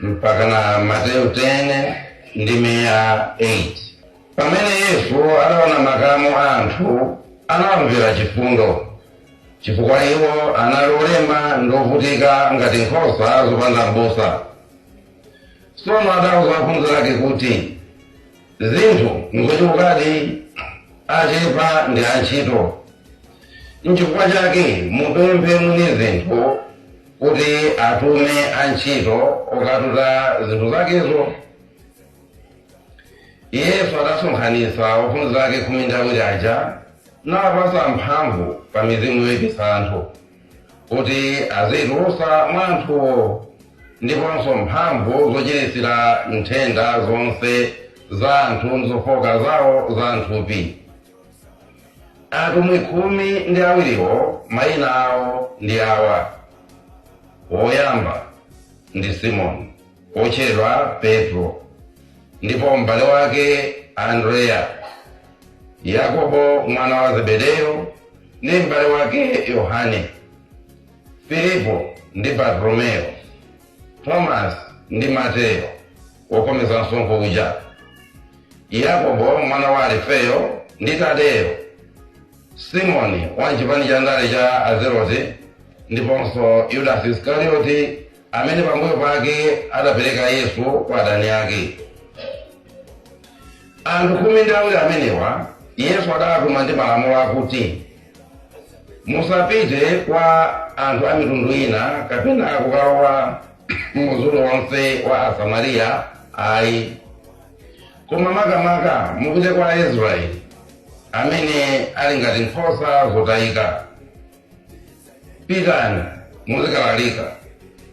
mpakana Mateyu 10 ndime ya 8 pamene Yesu adaona makamu a anthu anawamvera chifundo chifukwa iwo anali olema ndi ovutika ngati nkhosa zopanda m'busa tsono adauza ophunzira ake kuti Zinthu n'zochulukadi, achepa ndi antchito. N'chifukwa chake mupemphe mwini zinthu kuti atume antchito okatuta zinthu zakezo. Yesu adasonkhanitsa ophunzira ake khumi ndi awiri aja nawapatsa mphamvu pa mizimu yoipitsa anthu. kuti aziitulutsa mwa anthuwo ndiponso mphamvu zochiritsira nthenda zonse za anthu ndi zofooka zawo za m'thupi atumwi khumi ndi awiriwo mayina awo ndi awa woyamba ndi simoni wotchedwa Petro, ndipo m'bale wake Andreya, Yakobo mwana wa Zebedeyo ndi m'bale wake Yohane, Filipo ndi Bartolomeyo, Tomasi ndi Mateyo wokhometsa msonkho uja, Yakobo mwana wa Alifeyo ndi Tadeyo, Simoni wa m'chipani cha ndale cha Azelote, ndiponso Yudasi Isikarioti amene pambuyo pake adapereka Yesu kwa adani ake. Anthu khumi ndi awiri amenewa Yesu adawatuma ndi malamulo akuti, Musapite kwa anthu a mitundu ina kapena kukalowa mumzi uliwonse wa Asamariya ayi, koma makamaka mupite kwa Aisraeli amene ali ngati nkhosa zotayika. pitani muzikalalika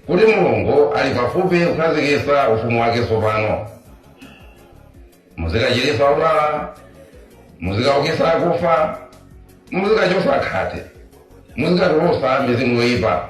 kuti mulungu ali pafupi kukhazikitsa ufumu wake tsopano muzikachiritsa odwala muzikaukitsa akufa muzikachotsa khate muzikatulutsa mizimu yoyipa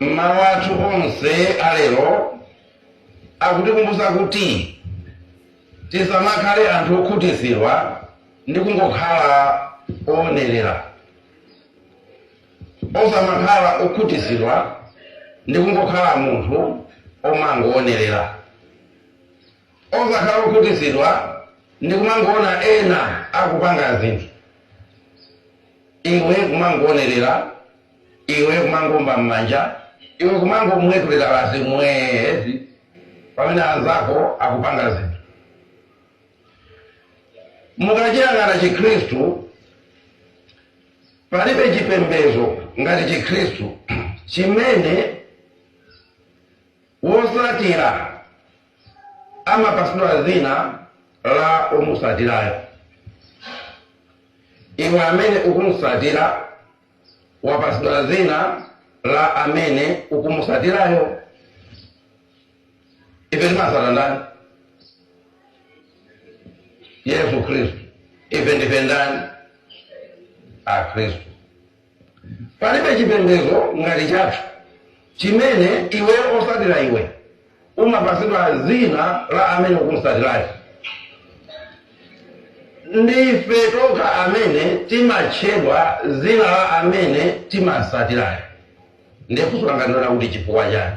Mawu athu onse a lero akutikumbutsa kuti tisamakhale anthu okhutitsidwa ndi kungokhala oonerera, osamakhala okhutitsidwa ndi kungokhala munthu omangoonerera. Osakhala okhutitsidwa ndi kumangoona ena akupanga zinthu iwe kumangoonerera, iwe kumangoomba mmanja, iwe kumangomwetulira basi mwee basi pamene anzako akupanga zinthu. Mukachiyang'ana chikhristu, palibe chipembedzo ngati chikhristu chimene wosatira. amapatsidwa dzina la omutsatirayo. Iwe amene ukumutsatira wapatsidwa dzina la amene ukumutsatirayo. Ife timatsatira ndani? Yesu Khristu. Ife ndife ndani? Akhristu. Palibe chipembedzo ngati chathu chimene iwe osatira iwe umapatsidwa dzina la amene ukumutsatirayo. Ndi ife tokha amene timatchedwa dzina la amene timamutsatirayo. Ndiye funso langa ndi lonena kuti chifukwa chani?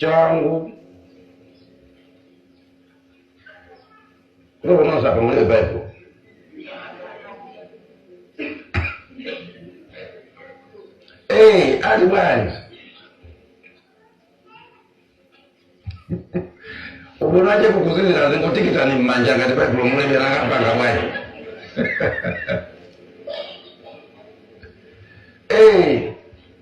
changu kuno kunonse apa mulibe baibulo Eh, ali bwanji ubonaje kukuzizira zingotikitani mmanja ngati baibulo mulibe nakapanga bwanji Eh,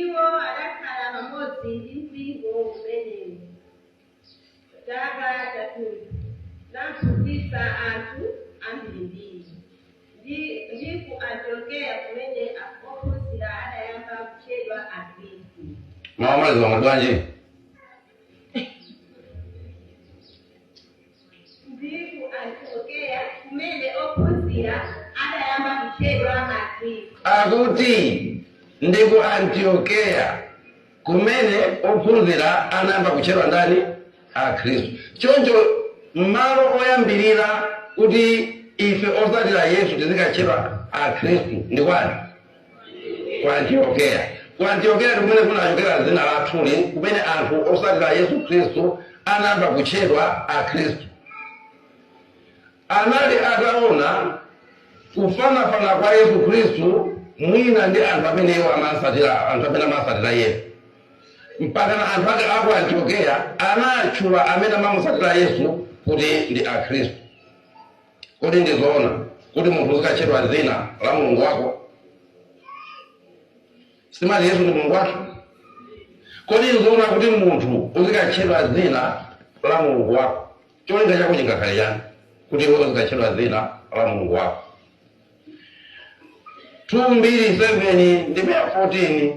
Iwo adakhala pamodzi ndi mpingo umenewo chaka chathunthu, naphunzitsa anthu ambirimbiri. Ndi ku Antiokeya kumene ophunzira adayamba kutchedwa Akhristu. Mawu omalizawa mwati bwanji? Ndi ku Antiokeya kumene ophunzira adayamba kutchedwa Akhristu. Akuti ndi ku Antiokeya kumene ophunzira anayamba kutchedwa ndani? Akhristu. Choncho malo oyambirira kuti ife otsatira Yesu tizikatchedwa Akhristu ndi kwati? ku antiokeya ku antiokeya ndi kumene kunachokera dzina lathuli kumene anthu osatira yesu khristu anayamba kutchedwa akhristu anali ataona kufanafana kwa yesu khristu mwina ndi anthu amene iwo amasatira anthu amene amasatira yesu mpaka na anthu ake aku antiokeya anatchula amene amamusatira yesu kuti ndi akhristu Kodi ndi zoona kuti munthu uzikatchedwa dzina la mulungu wako? Sitimati Yesu ndi mulungu wathu? Kodi n'zoona kuti munthu uzikatchedwa dzina la mulungu wako? Cholinga chako chingakhale chani kuti iwe uzikatchedwa dzina la mulungu wako? 2 Mbiri 7 ndime ya 14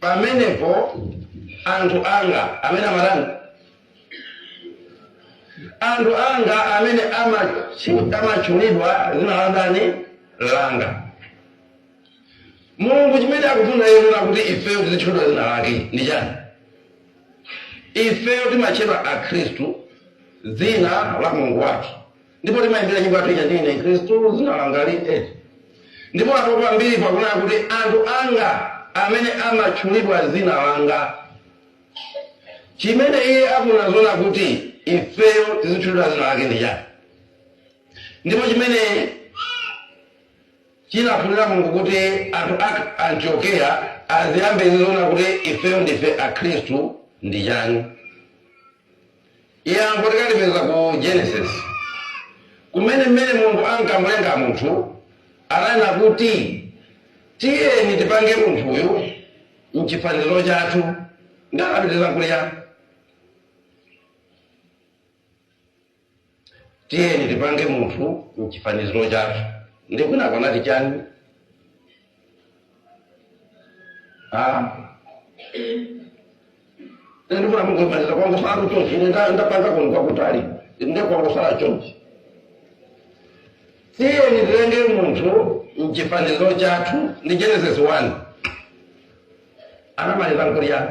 pamenepo anthu anga amene amatani anthu anga amene amachi- amatchulidwa dzina la ndani langa mulungu chimene akufuna iye nena kuti ifeyo tizitchulidwa dzina lake ndi chani ifeyo timatchedwa akhristu dzina la mulungu wathu ndipo timayimbira nyimbo yathu ija ndine mkhristu dzina langa li eh. ndipo apo pa Mbiri pakunena kuti anthu anga amene amatchulidwa dzina langa chimene iye akufuna zona kuti ifeyo tizitchulidwa dzina lake ndi chani ndipo chimene chinafunira mulungu kuti anthu a antiokeya aziyambe zizona kuti ifeyo ndife akhristu ndi chani Yankho tikalipeza ku Genesis, kumene mmene Mulungu ankamulenga munthu ananena kuti, Tiyeni tipange munthuyu m'chifaniziro chathu. Ndani anapitiriza nkuliya? tiyeni tipange munthu mchifaniziro chathu ndi kwinako anati chani Ah. Ine ndifuna mungomaliza kwangotsala chonchi ine nda- ndapanga koni kwakutali inde kwangotsala chonchi tiyeni tilenge munthu mchifaniziro chathu ndi genesis 1 anamaliza nkuti chiyani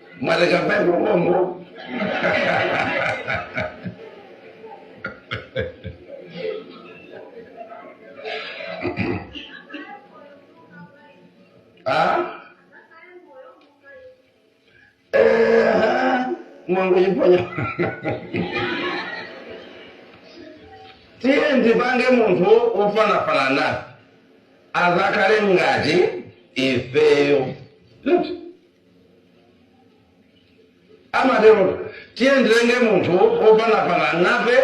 mwatenga mphepo konko Ah? Eh, mwangochiponya tiyeni tipange munthu ofanafana nafe azakhale ngati ifeyo Loti. amatero tiyeni tilenge munthu ofanafana nafe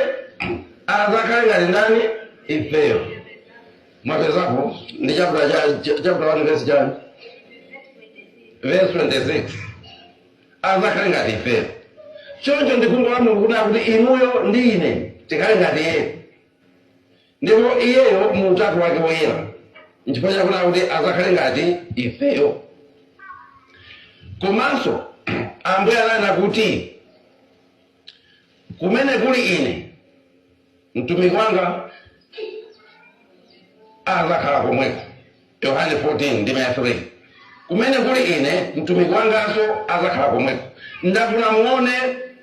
azakhale ngati ndani ifeyo mwapezapo ndi chapter cha- cha- chapter 1 verse chani verse 26 azakhale ngati ifeyo choncho ndi khumbo la mulungu kuti akuti inuyo ndi ine tikhale ngati iye Ndipo Iyeyo, mu utatu Wake woyera, nchifukwa chake akunena kuti adzakhale ngati ifeyo. Komanso Ambuye ananena kuti, kumene kuli Ine, mtumiki wanga adzakhala komweko. Yohane 14 ndime ya 3. Kumene kuli Ine, mtumiki wanganso adzakhala komweko. Ndafuna muone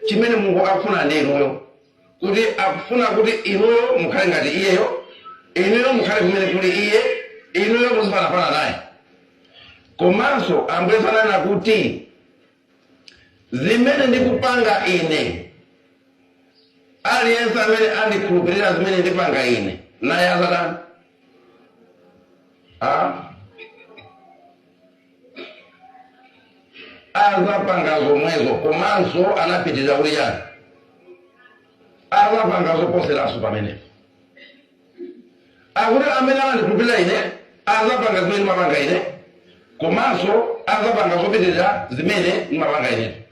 chimene Mulungu akufuna ndi inuyo. kuti akufuna kuti inuyo mukhale ngati iyeyo, inuyo mukhale kumene kuli iye, inuyo muzifanafana naye. Komanso Ambuye Yesu ananena kuti zimene ndikupanga ine, aliyense amene andikhulupirira zimene ndipanga ine, naye adzatani? Ah? azapanga zomwezo komanso anapitiriza kuti chani azapanga zoposeraso pamenepo akuti amene amandikhulupirira ine azapanga zimene ndimapanga ine komanso azapanga zopitirira zimene ndimapanga ineyo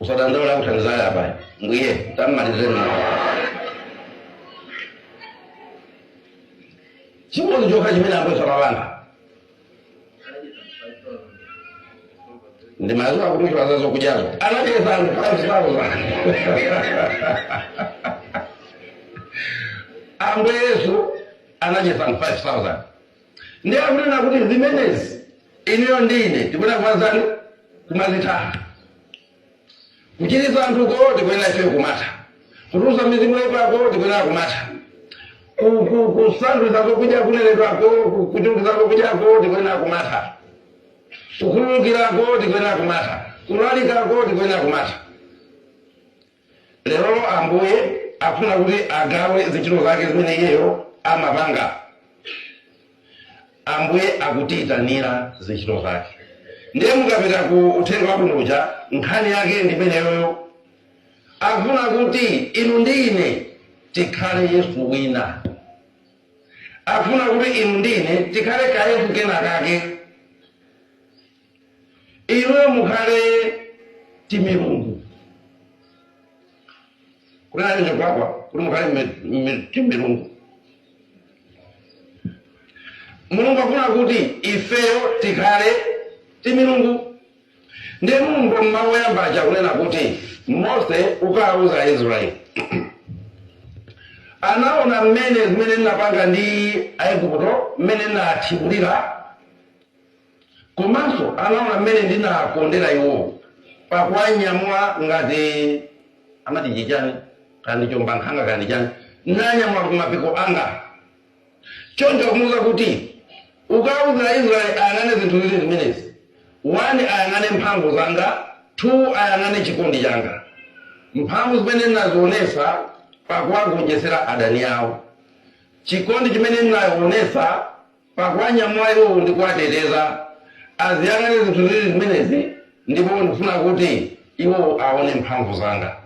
usadandaula kuthandizana apa m'mbuye tamalizeni chimodzi chokha chimene akuluwa amapanga ndi mazuwa akutchula za zokudyazo anadyetsa anthu 5000 ambuye yesu anadyetsa anthu 5000 Ndiye akunena kuti zimenezi inuyo ndi ine tikuyenera kumazitani? Kumazitha. Kuchiritsa anthuko tikuyenera ifeyo kumatha. Kutulutsa mizimu yoipako tikuyenera kumatha. Ku, ku, kusandulitsa zokudya kunenedwako, ku- kuchulukitsa zokudyako tikuyenera kumatha. Kukhululukirako tikuyenera kumatha. Kulalikako tikuyenera kumatha. Lerolo Ambuye akufuna kuti agawe zintchito zake zimene iyeyo amapanga. Ambuye akutiitanira zintchito zake. Ndiye mukapita ku uthenga wabwino uja, nkhani yake ndi imeneyoyo. Akufuna kuti inu ndi ine tikhale Yesu wina. Akufuna kuti inu ndi ine tikhale kayesu kena kake. inuyo mukhale timilungu kunena kuti ndikulakwa kuti mukhale mi- mi- timilungu mulungu afuna kuti ifeyo tikhale timilungu ndiye mulungu m'mawu oyamba aja akunena kuti mose ukawauza aisraeli anaona mmene zimene ndinapanga ndi aigupto mmene ndinawathibulira Komanso anaona mmene ndinawakondera iwo pakuwanyamula ngati amati chi chani kaya ndi chombankhanga kaya ndi chani nanyamula m'mapiko anga. Choncho akumuuza kuti, Ukauze Aisraele ayang'ane zinthu ziwiri zimenezi, 1 ayang'ane mphamvu zanga, 2 ayang'ane chikondi changa, mphamvu zimene ndinazionetsa pakuwagonjetsera adani ao, chikondi chimene ndinaonetsa. pakuwanyamula iwo ndi kuwateteza. Aziyang'ane zinthu ziwiri zimenezi, ndipo ndikufuna kuti iwo awone mphamvu zanga.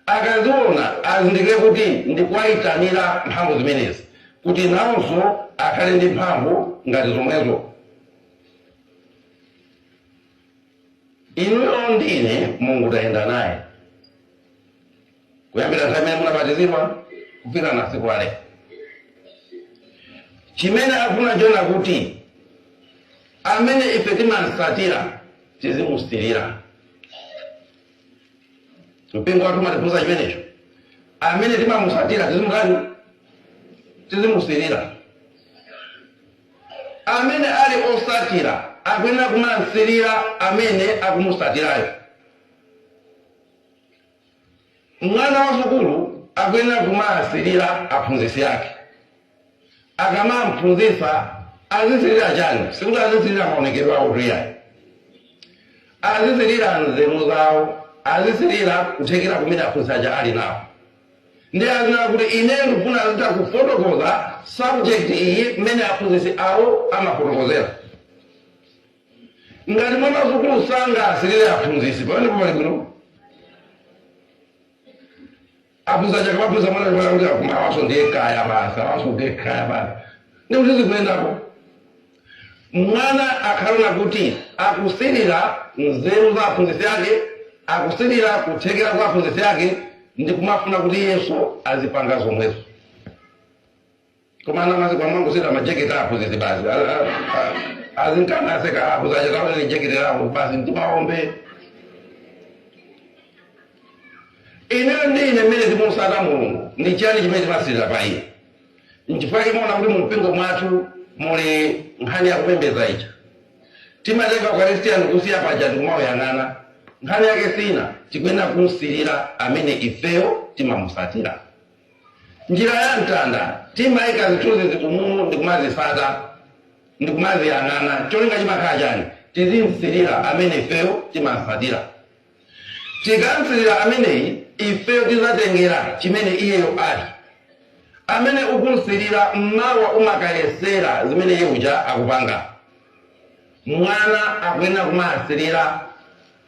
Akaziwona, azindikire kuti ndikuwaitanira mphamvu zimenezi, kuti nawonso akhale ndi mphamvu ngati zomwezo. Inuyo ndi ine, Mulungu tayenda naye. kuyambira nthawi imene munabatizidwa kufika na siku la lero chimene akufuna n'chonena kuti amene ife timamutsatira tizimusirira mpingo wathu umatiphunzitsa chimenecho amene timamutsatira tizimutani tizimusirira amene ali otsatira akuyenera kumamusirira amene akumutsatirayo Mwana wa sukulu akuyenera kumawasirira aphunzitsi ake. Akamamuphunzitsa azisirira chani? Sikuti azisirira maonekedwe awotu iyayi. Azisirira nzeru zawo, azisirira kuthekera kumene aphunzitsi aja ali nako. Ndiye azinena kuti ineyo ndikufuna ndizitha kufotokoza subject iyi mmene aphunzitsi awo amafotokozera. ngati mwana wa sukulu sangasirire aphunzitsi pamenepo pali bwino aphunzitsi aja akamaphunzitsa mwana chimwana kuti akuma awaso ndiye kaya basi awaso ndiye kaya basi ndi kuti zikuyendapo mwana akhale woti akusirira nzeru za aphunzitsi ake akusirira kuthekera kwa aphunzitsi ake ndi kumafuna kuti iyenso azipanga zomwezo koma ana masiku ano amangoseka majeketi aphunzitsi basi A- a- a- azingowaseka aphunzitsiwo kaona ni jeketi lawo basi mtimaombe inuyo ndi ine amene timamutsata mulungu ndi chiyani chimene timasirira pa iye nchifukwa chake muona kuti mu mpingo mwathu muli nkhani yakupembedza ija timatenga ukaristia ndikusiya paja ndikumauyang'ana nkhani yake ina tikuyenera kumusirira amene ifeyo timamutsatira Njira ya mtanda, timaika zithunzizi umu ndi kumazitsata ndi kumaziyang'ana. Cholinga chimakhala chani? Tizim'sirira amene ifeyo timam'tsatira. Tikam'sirira ameneyi, ifeyo tizatengera chimene iyeyo ali. Amene ukum'sirira, mawa umakayesera zimene iye uja akupanga. Mwana akuyenera kumasirira.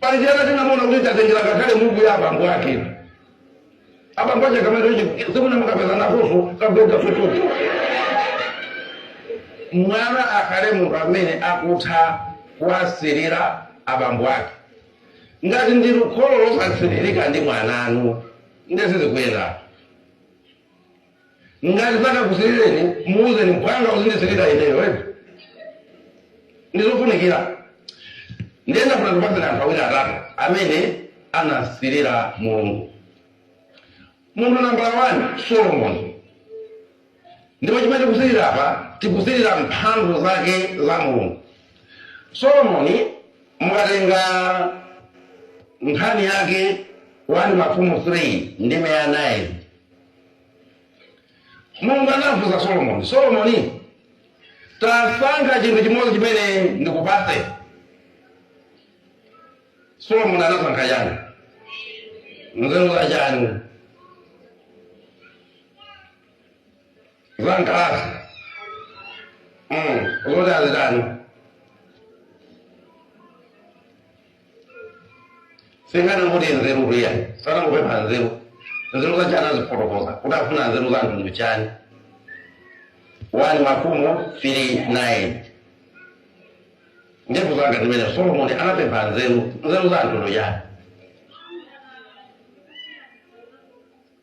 Pali chaka tinamuona kuti tatengera ngakhale muku ya abambo ake. Abambo ake akamaliza chinthu simuna mukapeza nakoso kagoga tototo. Mwana akhale munthu amene akutha kuwasilira abambo ake. Ngati ndinu kholo losasilirika ndi mwananu, ndiye sizikuyendani. ngati sanakusilireni muuzeni mphwanga uzindisilira ineyo eti ndizofunikira ndiye ndafuna ndikupatseni anthu awiri atatu amene anasilira mulungu munthu nambala 1 solomoni ndipo chimene tikusilira apa tikusilira mphamvu zake za mulungu solomoni mukatenga nkhani yake 1 mafumu 3 ndime ya 9 mulungu anafunsa solomoni solomoni tasankha chinthu chimodzi chimene ndikupatse solomoni anasankha chani nzeru za chani za nkalasi mm. zoti azitani singana ngoti nzeru kuya sana kupempha nzeru nzeru za chani anafotokoza kuti afuna nzeru za mtundu chani 1 mafumu 3 9 ndevu zanga zimene solomoni anapempha nzeru nzeru za mtundu chani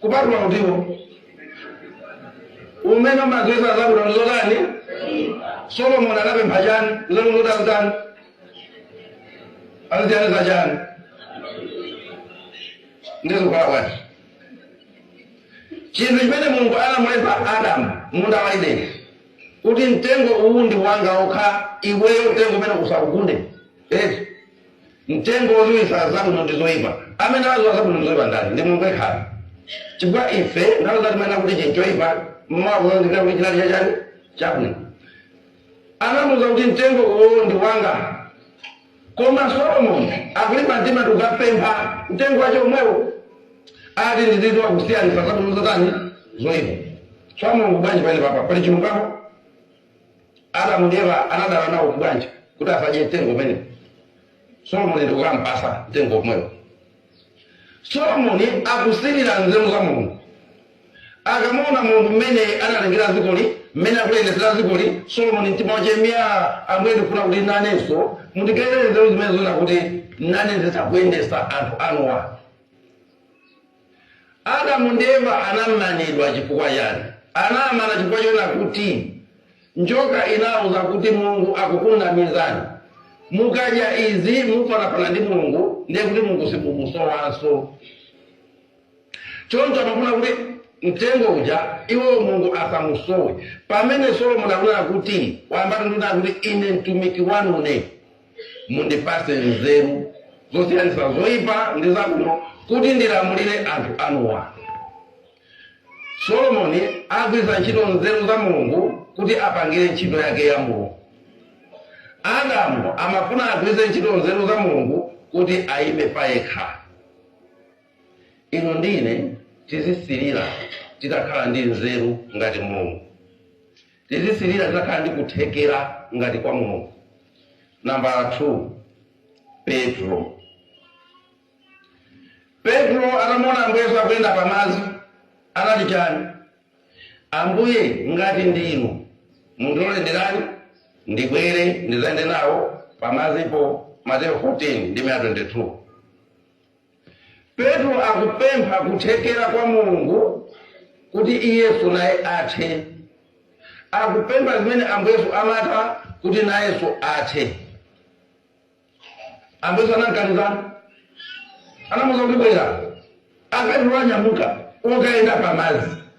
kupatula uti uwo umene umadziwisa zabwino ndi zotani solomoni anapempha chani nzeru zoti azitani azisiyanitsa chani ndizikukhala bwanji chinthu chimene mulungu anamuletsa adamu mmunda wa ideni kuti mtengo uwu ndi wanga okha iweyo mtengo umenewu usaugunde eti mtengo woziwisa zabwino ndi zoipa amene amaziwa zabwino ndi zoipa ndani ndi mulungu yekhani chifukwa ife nthawi zina timanena kuti chinthu choipa mmawa kuzindikira kuti chinali chachani chabwino anamuuza kuti mtengo uwo ndi wanga koma solomoni akulimba mtima ndi kukapempha mtengo wake womwewo ati ndizidziwa kusiyanitsa zabwino ndi zotani zoipa tsoa mulungu bwanji pali papa pali chilungamo Adamu ndi Eva anadana nawo bwanji kuti asadye mtengo umenewo? Solomoni ndikukampasa mtengo womwewo. Solomoni akusirira nzeru za Mulungu. Akamaona Mulungu mmene analengera dzikoli, mmene akuliyendetsera dzikoli, Solomoni mtima wache myaa! Ambuye ndikufuna kuti nanenso mundigaire nzeru zimenezo kuti nane nditha kuyendetsa anthu anuwa. Adamu ndi Eva anamanidwa chifukwa chani? Anawamana chifukwa chonena kuti njoka inawauza kuti Mulungu akukunamizani. Mukadya izi mufanafana ndi Mulungu ndiye kuti Mulungu simumusowanso. Choncho anafuna kuti mtengo uja iwowo Mulungu asamusowe. Pamene Solomoni akunena kuti wayambatu ndi kunena kuti ine mtumiki wanune. mundipatse nzeru zosiyanitsa zoyipa ndi zabwino kuti ndilamulire anthu anuwa solomoni agwiritsa ntchito nzeru za mulungu kuti apangire ntchito yake ya mulungu adamu amafuna agwiritse ntchito nzeru za mulungu kuti ayime payekha inu ndi ine tizisirira titakhala ndi nzeru ngati mulungu Tizisilira titakhala ndi kuthekera ngati kwa Mulungu. Nambala 2, Petro. Petro atamuona Ambuye Yesu akuyenda pa madzi, anati chani? Ambuye ngati ndinu, mundilole nditani? Ndibwere ndidzayende nawo pa madzipo, Mateyo 14 ndime ya 22. Petro akupempha kuthekera kwa Mulungu kuti iyenso naye athe. Akupempha zimene Ambuye Yesu amatha kuti nayenso athe. Ambuye Yesu anamkaniza? Anamuuza kuti bwera. A Petro wanyamuka akayenda pamadzi.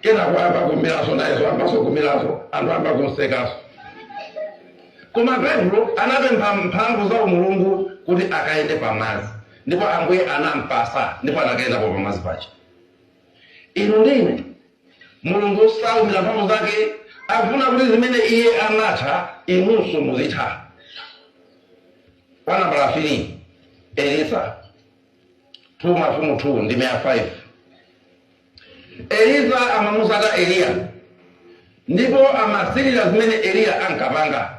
kenako ayamba kumiraso nayeso ayambaso kumiraso anthu ayamba kumsekaso koma petulo anapempha mphamvu za umulungu kuti akayende pamazi ndipo ambuye anampasa ndipo anakayendapo pamazi pake inu ndi ine mulungu saumira mphamvu zake akufuna kuti zimene iye anatha inunso muzitha wanambala 3 elisa 2 Mafumu 2 ndime ya 5 Elisa amamusata Eliya ndipo amasirira zimene Eliya ankapanga.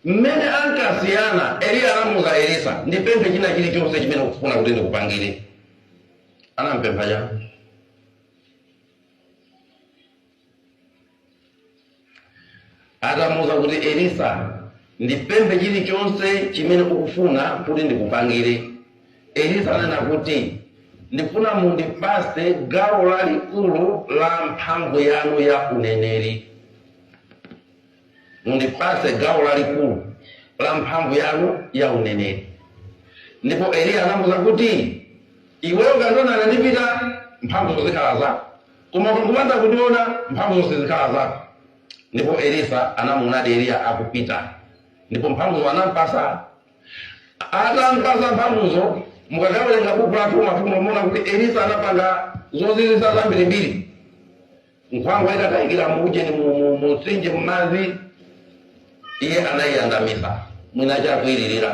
Mmene ankasiyana, Eliya anamuuza Elisa, ndipemphe china chilichonse chimene ukufuna kuti ndikupangire. Anampempha chani? atamuuza kuti elisa ndipemphe chilichonse chimene ukufuna kuti ndikupangire elisa ananena kuti ndifuna mundipatse gawo lalikulu la mphamvu yanu ya uneneri Mundipatse gawo lalikulu la mphamvu yanu ya uneneri. Ndipo Eliya anamuuza kuti, Iweyo ukandiona ndikupita, mphamvuzo zikhala zako. Koma ukangopanda kundiona, mphamvuzo sizikhala zako. Ndipo Elisa anamuonadi Eliya akupita, ndipo mphamvuzo anam'patsa. Atam'patsa mphamvuzo, mukakawerenga buku la 2 Mafumu, muona kuti Elisa anapanga zozizwitsa zambirimbiri. Nkhwangwa itatayikira mu ujeni mu- mu- mu mtsinje m'madzi, iye anayiyandamisa mwiniwake akuyilirira.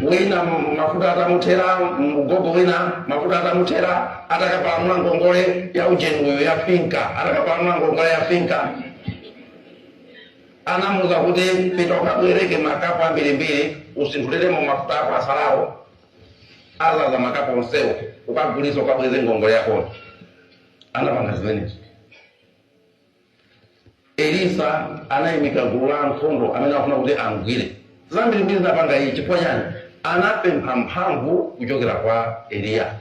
Wina m- mafuta atamuthera, mgogo wina mafuta atamuthera, atakapalamula ngongole ya ujeni uyu ya finka, atakapalamula ngongole ya finka anamuuza kuti pita ukabwereke makapu ambirimbiri utsanuliremo mafuta ako atsalawo adzadza makapu onsewo ukagulisa ukabweze ngongole yakoyo anapanga zimenezo elisa anaimika gulu la ankhondo amene amafuna kuti amgwire zambirimbiri anapanga iye chifukwa chani anapempha mphamvu kuchokera kwa eliya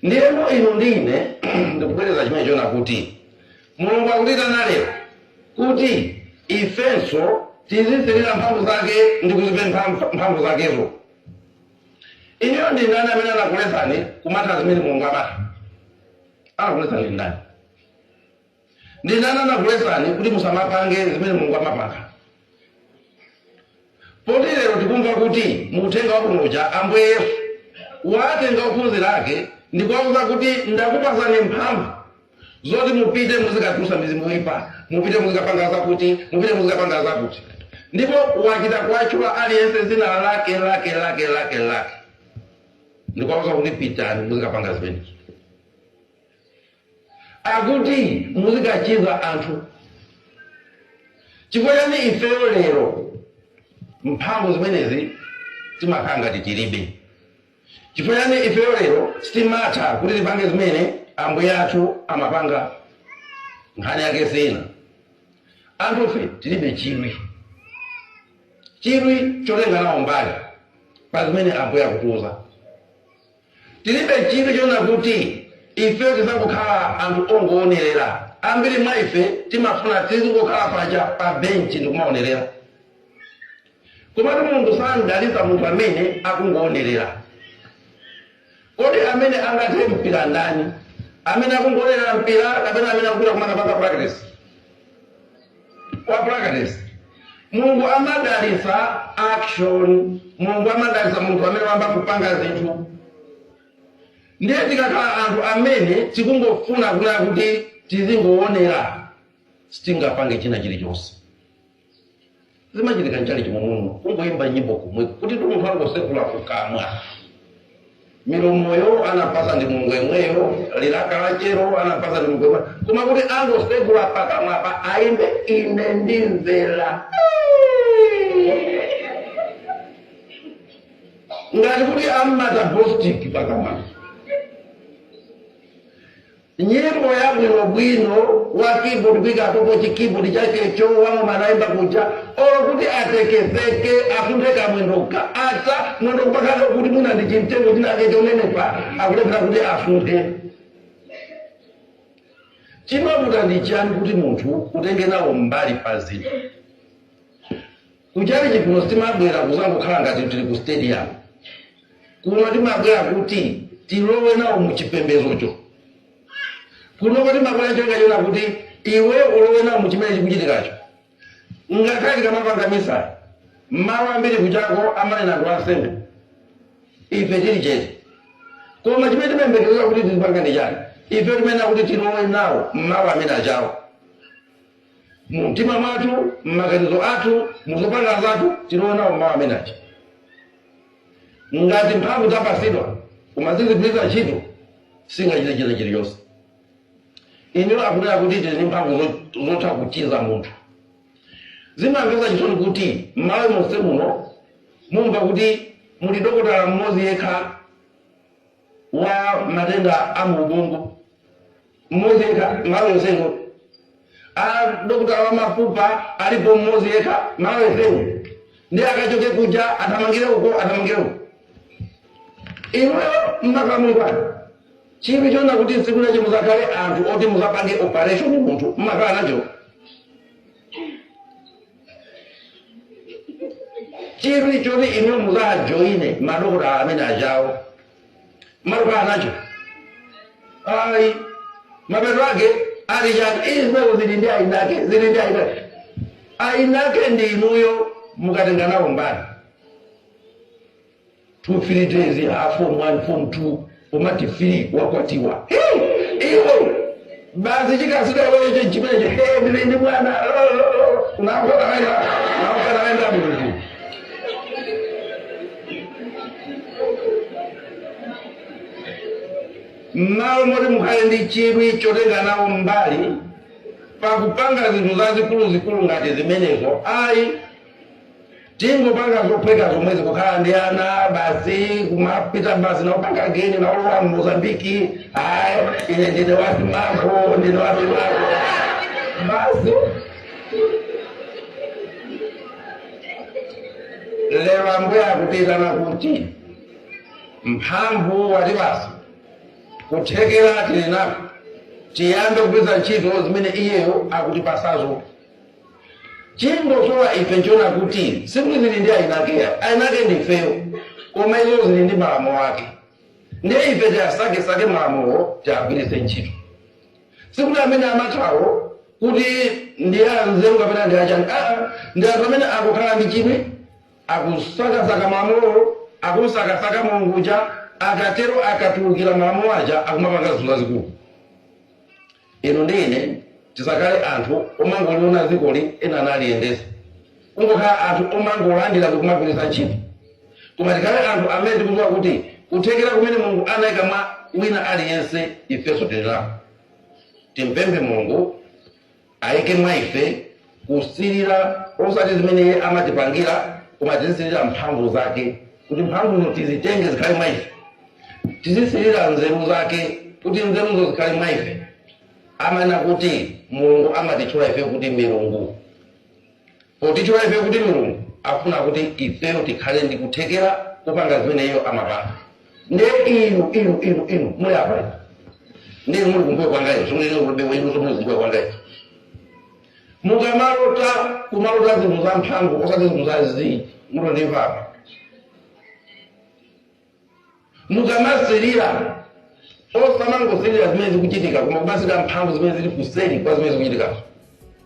ndiyeno inu ndi ine ndikubwereza chimenecho kuti mulungu akutiitana lero kuti ifenso tizisilira mphamvu zake ndi kuzipempha mph- mphamvu zakezo inuyo ndi ndani amene anakuletsani kumatha zimene mulungu amatha anakuletsani ndi ndani ndi ndani anakuletsani kuti musamapange zimene mulungu amapanga poti lero tikumva kuti mu uthenga wabwino uja ambuye yesu watenga ophunzira ake ndi kuwauza kuti ndakupatsani mphamvu zoti mupite muzikatulutsa mizimu yoyipa mupite muzikapanga zakuti mupite muzikapanga zakuti ndipo wachita kuwatchula aliyense dzina lake lake lake lake lake ndikuwauza kuti pitani muzikapanga zimenezo Akuti muzikachiza anthu. Chifukwa chani ifeyo lero mphamvu zimenezi timakhala ngati tilibe? Chifukwa chani ifeyo lero sitimatha kuti tipange zimene ambuye athu amapanga? Nkhani yake si ina. Anthufe tilibe chidwi, chidwi chotenga nawo mbali pa zimene ambuye akutiuza. Tiribe chidwi choona kuti ifeyo tidzangokhala anthu ongoonerera. Ambiri mwa ife timafuna tizingokhala paja pa benchi ndi kumaonerera. Komatu Mulungu sadalitsa munthu amene akungoonerera. Kodi amene angathe mpira ndani, amene akungoonerera mpira kapena amene akupita kumakapanga practice? kwa practice mulungu amadalitsa action mulungu amadalitsa munthu amene wayamba kupanga zinthu ndiye tikakhala anthu amene tikungofuna kunena kuti tizingoonerera sitingapange china chilichonse zimachitika mchalichi momwemo kungoyimba nyimbo komweko kuti munthu angosegula kukamwa milomoyo anapasa ndi mulungu yemweyo lilaka lachero anapasa ndi mulungu yemweyo koma kuti angosegula pakamwapa ayimbe ine ndimvera ngati kuti ammata bostik pakamwa Nyimbo yabwinobwino wa keyboard kuika apopo chi keyboard chake cho wa ng'oma naimba kuja olo kuti atekeseke asunthe kamwendo ka ata mwendo kupakana kuti mwina ndi chimtengo chinake chonenepa akulephera kuti asunthe chimavuta ndi chiyani kuti munthu utenge nawo mbali pa zinthu Ku chalichi kuno sitimabwera kuzangokhala ngati tili ku stadium. Kuno timabwera kuti tilowe nawo mu chipembedzocho. Kunoko timabwera ncholinga chona kuti iweyo ulowe nawo mu chimene chikuchitikacho. Ngakhale tikamapanga misa, mawu ambiri kujaku amanena ndi ansembe. Ife tili chete. Koma chimene timayembekezera kuti tizipanga ndi chani? Ife timayenera kuti tilowe nawo m'mawu amene ajawo. mu mtima mwathu m'maganizo athu mu zopanga zathu tilowe nawo mmawu amene aja ngati mphamvu tapasidwa koma sitigwiritsa ntchito sitingachite china chilichonse inuyo akunena kuti tili ndi mphamvu zo- zotha kuchiza munthu zimamvetsa chisoni kuti m'Malawi monse muno mumva kuti muli dokotala mmodzi yekha wa matenda a mu ubongo. Mmodzi yekha, Malawi yenseyu. Dokotala wa mafupa alipo mmodzi yekha, Malawi yenseyu. Ndiye akachoke kuja athamangire uko, athamangire uko. Inuyo mmakhala muli kwanu. Chidwi chonena kuti tsiku lina muzakhale anthu oti muzapange operation munthu mmakhala nacho. chidwi choti inu mudzajoine madokotala amene ajawo mmakhala nacho ayi mapeto ake ali chani izo zili ndi ainake zili ndi ainake ainake ndi inuyo mukadatenga nawo mbali 2 3 days form 1 form 2 umati 3 wakwatiwa Hey! iwe basi chikasu wewe cho chimenecho hey, ndili ndi mwana unakwata wenda unakwata wenda mmalo moti mukhale ndi chidwi chotenga nawo mbali pakupanga zinthu zazikulu zikulu ngati zimenezo ayi Tingopanga zophweka zomwezi kukhala ndi ana basi kumapita basi naupanga geni naulowa mmozambiki ayi ine ndine wasimako ndine wasimako basi lero ambuye akutiyitana kuti mphamvu watipatsa kuthekera tili nako tiyambe kupeza ntchito zimene iyeyo akutipatsazo Chongosowa ife nchona kuti sikuti zili ndi eni ake ayi eni ake ndifeyo koma izo zili ndi malamulo ake ndiye ife tiasakesake malamulowo tiagwiritse ntchito sikuti amene amathawo kuti ndi anzeru kapena ndi achani aa ndi anthu amene angokhala ndi chidwi akusakasaka malamulowo akumsakasaka mulungu uja akatero akatulukira malamulo aja akumapanga zinthu zazikulu Inu ndi ine tisakhale anthu omangoliona dzikoli ena naliyendetsa, kungokhala anthu omangolandira ndi kumagwiritsa ntchito. Koma tikhale anthu amene tikudziwa kuti kuthekera kumene Mulungu anaika mwa wina aliyense ifenso tili nako. Timupemphe Mulungu aike mwa ife kusirira osati zimene iye amatipangira koma tizisirira mphamvu zake kuti mphamvuzo tizitenge zikhale mwa ife tizisirira nzeru zake kuti nzeruzo zikhale mwa ife amanena kuti mulungu amatitchula ifeyo kuti milungu potitchula ifeyo kuti milungu afuna kuti ifeyo tikhale ndi kuthekera kupanga zimene iyeyo amapanga nde inu inu inu inu muli apa inu nde muli kumbuyo kwangayo ndikunena kuti inunso muli kumbuyo kwangayo mukamalota kumalota zinthu za mphamvu osati zinthu za zii mukundimva apa mukamasirira osamangosirira zimene zikuchitika koma kumasirira mphamvu zimene zili kuseri kwa zimene zikuchitikazo